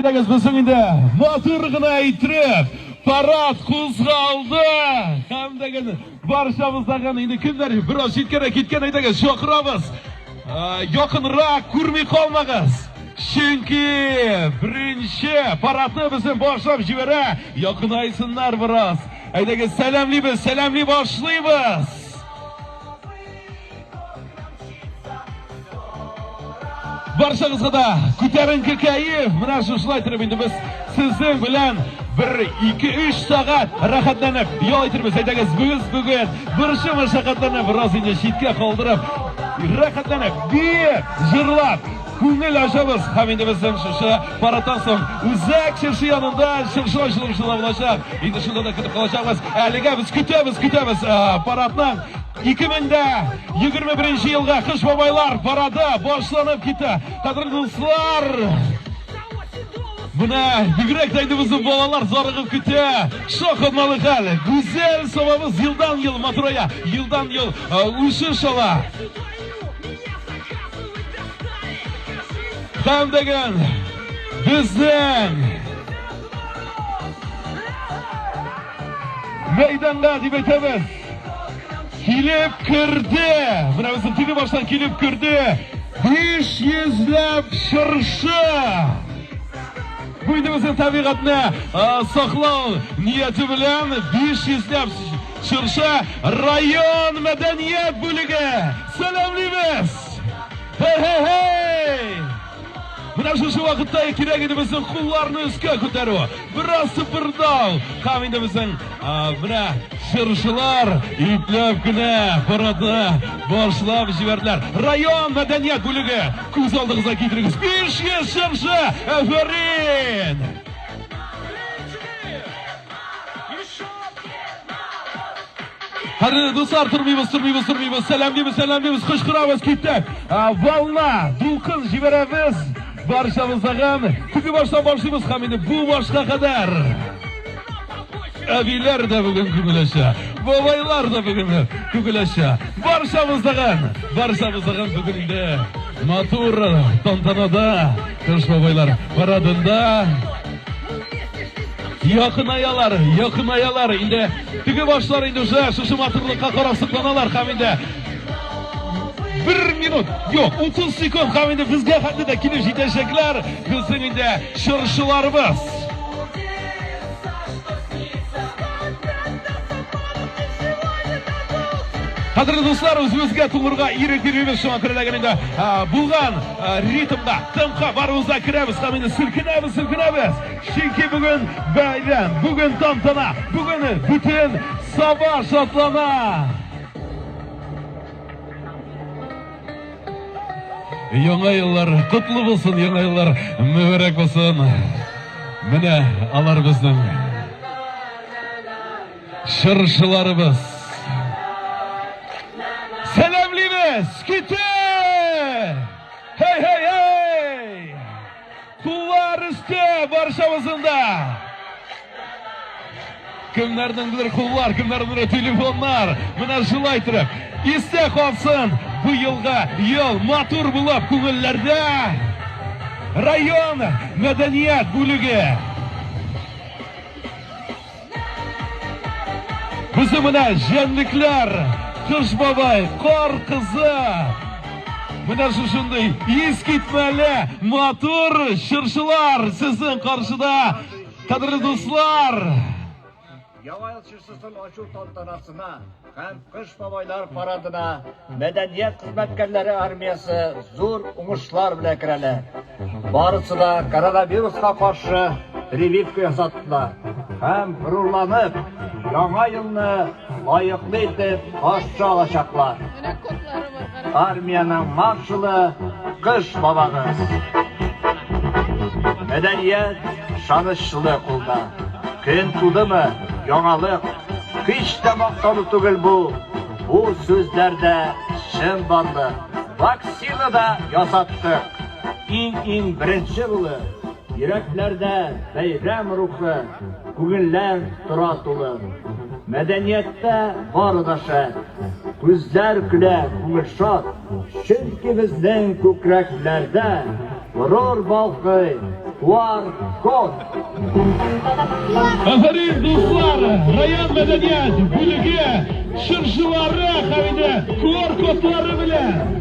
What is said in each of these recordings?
Әйдәгез безнең инде матур гына әйтеп, парад кузгалды. Һәм дәген баршабыздагы инде кемнәр бераз җиткән киткән әйдәгез чакырабыз. Якынрак күрми калмагыз. Чөнки беренче парадны безне башлап җибәрә. Якынайсыннар бераз. Әйдәгез сәламлибез, сәламли башлыйбыз. Баршагызга да күтәренке кәеф. Менә шушылай торып инде без сезнең белән бер ике өч сәгать рәхәтләнеп ял итәрбез. Әйдәгез, без бүген борчу мәшәкатьләрне бераз инде читкә калдырып, рәхәтләнеп, биеп, җырлап, күңел ачабыз. Һәм инде безнең шушы парадтан соң үзәк чыршы янында чыршы ачылышында булачак. Инде шунда да көтеп калачакбыз. Әлегә без көтәбез, көтәбез парадның 2021 елга кыш бабайлар парады башланып китте. Кадерле дуслар! Менә бигрәк тә инде безнең балалар зарыгып көтә. Шахматлы хәл. Гүзәл сабабыз елдан ел матурая, елдан ел үсеш ала. Һәм дигән безнең мәйданга дип әйтәбез. Килеп керде! Менә безнең теге баштан килеп керде! Биш йөзләп чыршы! Бу инде безнең табигатьне саклау нияте белән биш йөзләп чыршы район мәдәният бүлеге! Сәламлибез! Хе-хе-хей! Менә шушы вакытта кирәк иде безнең кулларны өскә күтәрү. Бераз сыпырдау. Һәм инде безнең менә чыршылар ипләп кенә парадны башлап җибәрделәр. Район мәдәният бүлеге күз алдыгызга китерегез. 500 чыршы! Әфәрин! Хәзер дуслар тормыйбыз, тормыйбыз, тормыйбыз. Сәлам дибез, сәлам дибез. Кычкырабыз китте. Волна, дулкын җибәрәбез. Баршабыз тагын. Күпе башта башлыйбыз һәм инде бу башка кадәр. Әбиләр дә бүген күгеләшә. Бабайлар да бүген күгеләшә. Баршабыз тагын. Баршабыз тагын бүген инде. Матур тантанада Кыш бабайлар парадында Якынаялар, якынаялар. Инде теге башлар инде уже шушы матурлыкка карап сокланалар һәм инде бер минут, юк, 30 секунд һәм инде безгә хәтле дә килеп җитәчәкләр. Безнең инде чыршыларыбыз. Хәзер дуслар, үзебезгә тулырга ирек бирүебез шуңа күрә ләгән инде булган. ритмда тымка баруыза керәбез һәм инде селкенәбез селкенәбез чөнки бүген бәйрәм бүген тантана бүген бөтен саба шатлана яңа еллар котлы булсын яңа еллар мөбәрәк булсын менә алар безнең Җырчыларыбыз. Сәламлибез! Ките! Хей, хей, хей! Куллар өсте баршамыздың да! Кемнәрнеңдер куллар, кемнәрнеңдер телефоннар. Менә шулай торып, истә калсын бу елга ел матур булып күңелләрдә район мәдәният бүлеге Бүзе менә җәнлекләр, кыш бабай, кар кызы. Менә шушындый ис китмәле матур чыршылар сезнең каршыда, кадерле дуслар. Яңа ел чыршысын ачу тантанасына Һәм Кыш бабайлар парадына мәдәният хезмәткәрләре армиясе зур уңышлар белән керәләр. Барысы да коронавируска каршы прививка ясаттылар һәм горурланып, Яңа елны лаеклы итеп каршы алачаклар. Армиянең маршалы Кыш бабагыз. Мәдәният шанычлы кулда. Көн тудымы, яңалык. Һич тә мактану түгел бу. Бу сүзләрдә чын барлык. Вакцина да ясаттык. Иң-иң беренче улы. Йөрәкләрдә бәйрәм рухы. Күңелләр тора тулы. Мәдәнияттә бары да шәп. Күзләр көлә, күңел шат, чөнки безнең күкрәкләрдә горур балкый QR-код. Афәрин, дуслар! Район мәдәният бүлеге чыршылары һәм инде QR-кодлары белән!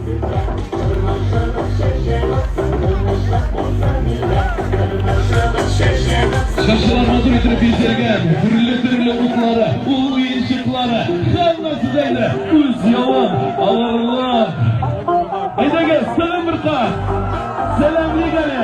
Чыршылар мазур итеп бизәлгән, төрле-төрле утлары, ул уенчыклары, һәммәсе дә инде үз явын алырлар. Әйдәгез, сәлам бер кат! Сәлам, Лигәле!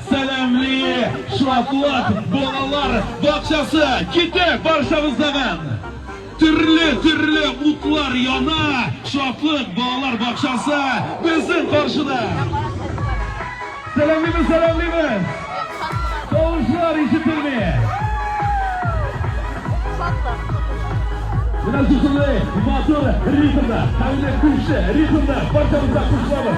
Сәламли Шатлык балалар бакчасы! Китек барчагыздаган! Төрле төрле утлар яна! Шатлык балалар бакчасы безнең каршыда! Сәламлибез, сәламлибез! Тавышлар ишетелми! Менә шушындай матур ритмда, хәлле күрше ритмда барчабызда кушылабыз!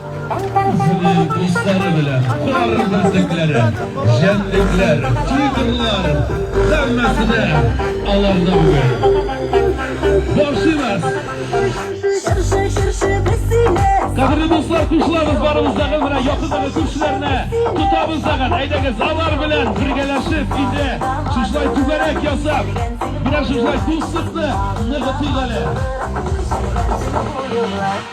Үзенең дуслары белән кар бөртекләре, җәнлекләр, тигрлар, һәммәсе дә аларны бүген. Борчыймыз! Чыршы, чыршы, без сине! Кадерле дуслар, кушылабыз барыбыздаға менә якындагы күршеләрне тотабыз дагын. Әйдәгез, алар белән бергәләшеп инде шушылай түгәрәк ясап, менә шушылай дуслыкны ныгытыйк әле.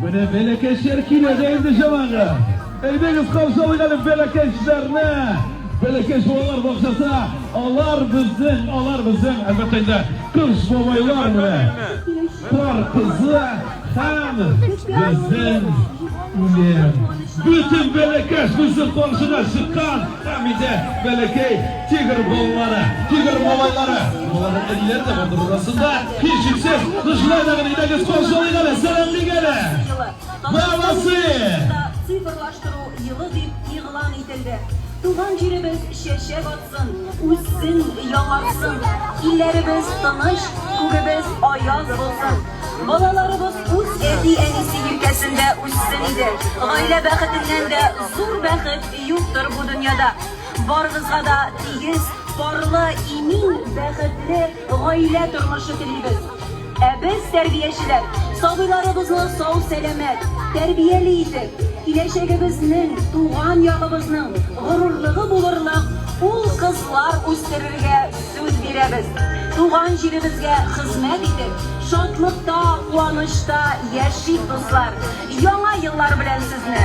Менә бәләкәчләр килә дә инде, җәмәгать. Әйдәгез, каршы алыйк әле бәләкәчләрне. Бәләкәч балалар бакчасы, алар безнең, алар безнең, әлбәттә инде, кыз бабайлар менә. Кар кызы һәм безнең үлем. Бөтен бәләкәч безнең каршына чыккан, һәм инде бәләкәй Тигр балалары, тигр малайлары, балалары телләр дә бар арасында. Һичшиксез, кышлай да гына идегез каршылыйк әле, сәламлик әле. Бабасы! Цифрлаштыру елы дип игълан ителде. Туган җиребез чәчәк атсын, үссен, яңарсын. Илләребез тыныч, күгебез аяз булсын. Балаларыбыз үз әти-әнисе җилкәсендә үссен иде. Гаилә бәхетеннән дә зур бәхет юктыр бу дөньяда. Барыгызга да тигез, парлы, имин, бәхетле гаилә тормышы телибез. Ә без, тәрбиячеләр, сабыйларыбызны сау-сәламәт, тәрбияле итеп, киләчәгебезнең, туган ягыбызның горурлыгы булырлык ул-кызлар үстерергә сүз бирәбез. Туган җиребезгә хезмәт итеп, шатлыкта, куанычта яшик, дуслар! Яңа еллар белән сезне!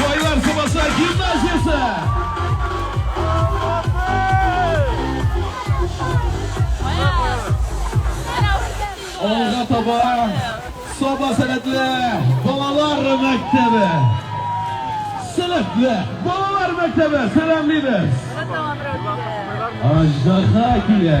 Байлар Сабаса гимназиясе! Алга таба Саба сәләтле балалар мәктәбе! Сәләтле балалар мәктәбе! Сәләмлибез! Аҗдаһа килә!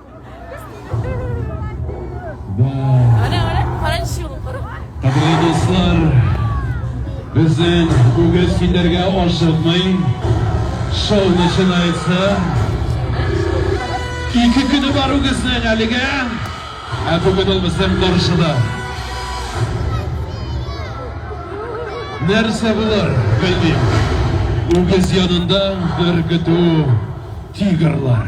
Кадерле дуслар, безнең үгез китәргә ашыкмый. Шоу начинается. Ике көне бар үгезнең әлегә. Ә бүген ул безнең каршыда. Нәрсә булыр, белмим. Үгез янында бер көтү тигрлар.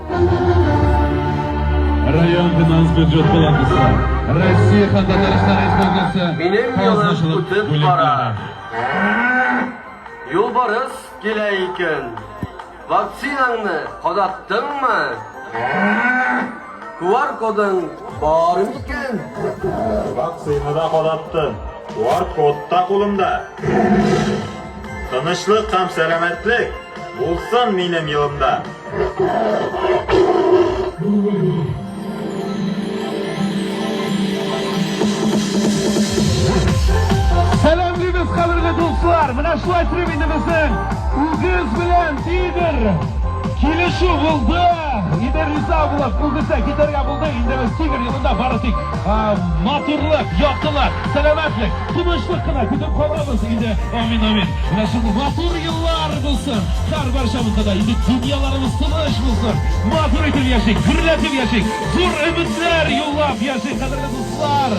Район финанс бюджет палатасы, Россия һәм Татарстан Республикасы казначылык бүлекләре. Юлбарыс килә икән. Вакцинаңны кадаттыңмы? Куар кодың бар микән? Вакцина да кадаттым. Куар код та кулымда. Тынычлык һәм сәламәтлек. Булсын минем елымда! Сәламлибез, кадерле дуслар! Менә шулай телим инде безнең үгез белән Идер килешү булды. Идер риза булып, үгезгә китәргә булды. Инде без Тигр юлында бары тик матурлык, яктылык, сәламәтлек. Тынычлык кына көтеп калабыз инде. Амин, амин. Менә шундый матур еллар булсын. Һәр барчамызда да инде дөньяларыбыз тыныч булсын. Матур итеп яшик, гөрләтеп яшик. Зур өметләр юллап яшик, кадерле дуслар.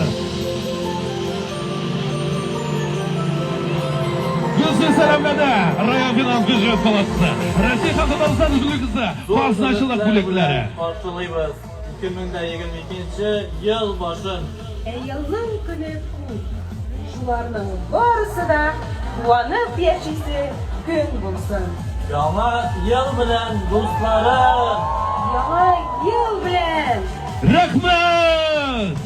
Гөлсез сәламләнә район финанс бюджет палатасы. Россия халкы Татарстан Республикасы казначылык бүлекләре. Каршылыйбыз. 2022 ел башын. Ә елның көне күп. Шуларның барысы да куанып яшисе көн булсын. Яңа ел белән, дусларым! Яңа ел белән! Рәхмәт!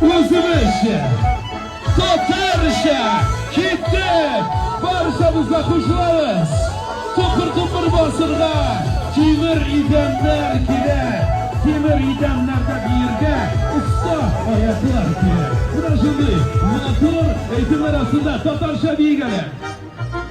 Үзебезчә, татарча киттек! Баршабызга кушылабыз! Тупыр-тупыр басырга тимер идәннәр кирәк! Тимер идәннәрдә биергә оста аяклар кирәк! Менә шундый матур әйтемнәр астында татарча биегәләр!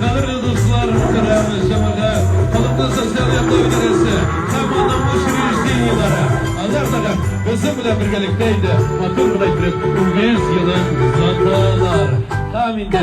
Кадерле дуслар, мөхтәрәм җәмәгать, халыкны социаль яклау идарәсе һәм аның учреждениеләре, алар да безнең белән бергәлектә инде матур гына итеп 100 елын озаталар. Һәм инде.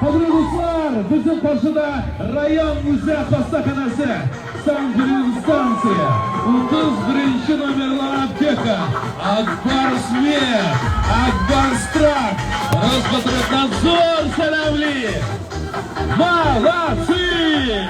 Кадерле дуслар, безнең каршыда район үзе хастаханәсе, Сан-Грин станция, 31 номерлы аптека, Акбарс Мед, Акбарс Трак, Роспотребнадзор сәләмли! Молодцы!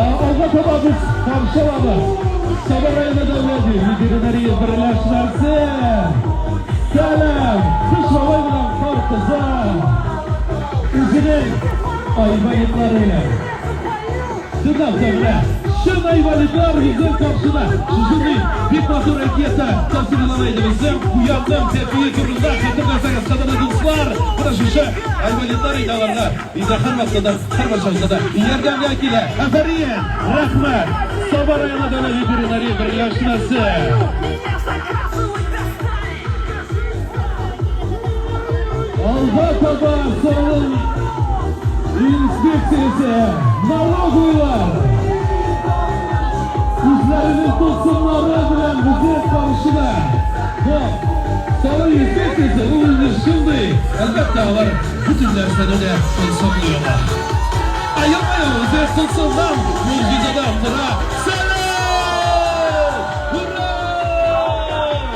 Алга таба без Камшалабыз Сабыр районы дәүләт ветеринария берләшмәсе Сәлам! Кыш бабай белән кар кызы үзенең айваетлары Сыдавда менә чын айваликлар үзен каршыда. Үзенең бик матур әкияте тасвирлана иде безнең Куянның тәпие турында хәтерләсәгез, кадерле дуслар, менә шушы айваликлар иде аларга. Инде һәрвакытта да, һәрбер чакта да ярдәмгә килә. Афәрин! Рәхмәт! Саба районы дәүләт ветеринария берләшмәсе. Алда таба салым инспекциясе налоговыйлар үзләренең тылсымнары белән безне каршыда. Бу салым инспекциясе ул инде шундый, әлбәттә, алар бөтен нәрсәне дә тылсымлый ала. Ә елмаю үзе тылсымнан, могҗизадан тора.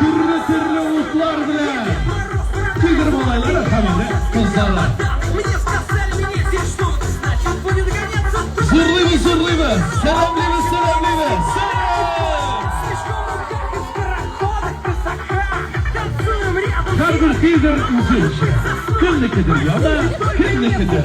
Төрле-төрле утлар белән. Тигр малайлары һәм инде кызлары. Зурлыйбыз, зурлыйбыз. Сәламлибез, сәламлибез. Һәрбер тигр үзенчә. Кемнекедер яна, кемнекедер.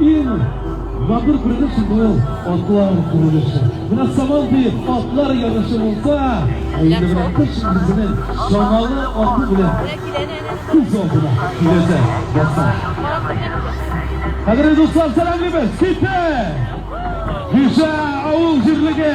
Ин матур күренеш бу атлар күренеше. Менә саман дип атлар ярышы булса, әйдә менә кыш үзенең чамалы аты белән күз алдына киләсе баса. Хәзер дуслар сәламлибез. Китә! Кичә авыл җирлеге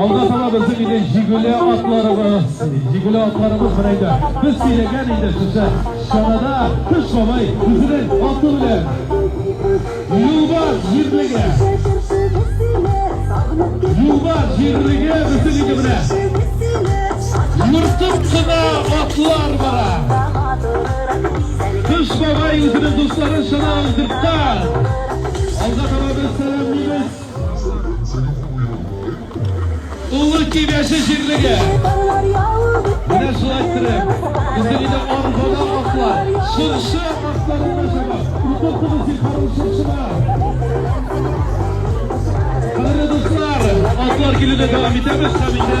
Алда таба безнең инде җигүле атларыбыз, җигүле атларыбыз менә инде. Без сөйләгән инде сезгә. Чанада Кыш бабай үзенең аты белән Юлбар җирлеге. Юлбар җирлеге бөтен иде белән. Йортым кына атлар бара. Кыш бабай үзенең дусларын чана алдыртта. Алга таба без сәламлибез. Олы Кибәче җирлеге. Менә шулай иттереп, безнең инде арбада атлар, чыршы атларында чаба. Утыртыгыз Зифарым чыршыда. Кадерле дуслар, атлар килүдә дәвам итәбез һәм инде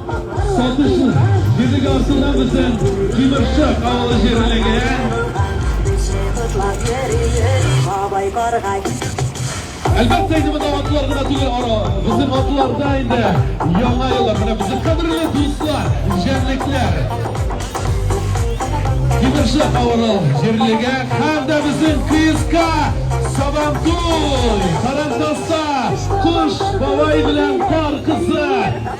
Сатышлы Гөдек артында безнең Тимершык авылы җирлеген. Әлбәттә инде монда атлар гына түгел ара. Безнең атларда инде яңа еллар. Менә безнең кадерле дуслар, җәнлекләр. Тимершык авылы җирлеге һәм дә безнең КСК Сабантуй. Карантаста Куш бабай белән Кар кызы.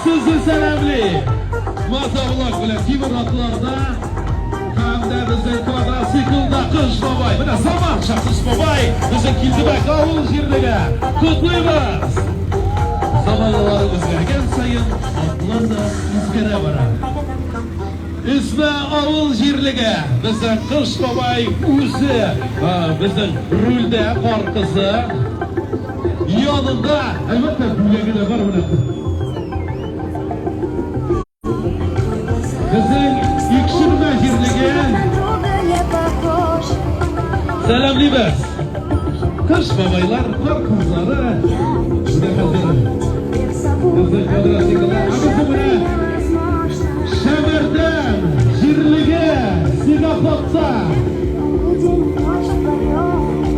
Сезне сәламли! Маза улак белән тимер атларда һәм дә безнең квадроциклда Кыш бабай. Менә Самар Шахсыз бабай безнең Килдебәк авыл җирлеге. Котлыйбыз! Заманалар үзгәргән саен атлар да үзгәрә бара. Үзбә авыл җирлеге безнең Кыш бабай үзе безнең рульдә кар кызы. Янында, әлбәттә, бүләге дә бар менә. Безнең Икшермә җирлеге. Сәламлибез. Кыш бабайлар, кар кызлары. Менә хәзер безнең квадратикада. Ә безнең менә Синофлотца!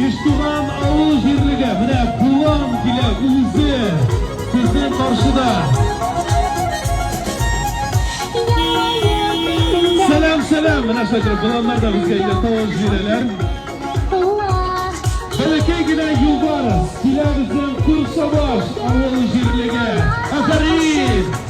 Иштуган авыл җирлеге, менә Булан килә үзе сезнең каршыда. Сәлам, сәлам, менә шайтыр, Буланнар да безгә инде тавыш бирәләр. Бәләкәй генә юлбарыс килә безнең Курсабаш авыл җирлеге. Афәрин!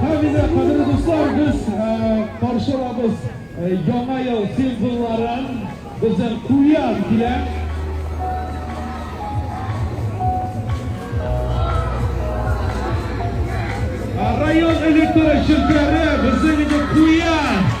Хәмидә, кадерле дуслар, без каршы алабыз яңа ел символларын. Безнең куян килә. Район электр җилкәре безнең инде куян.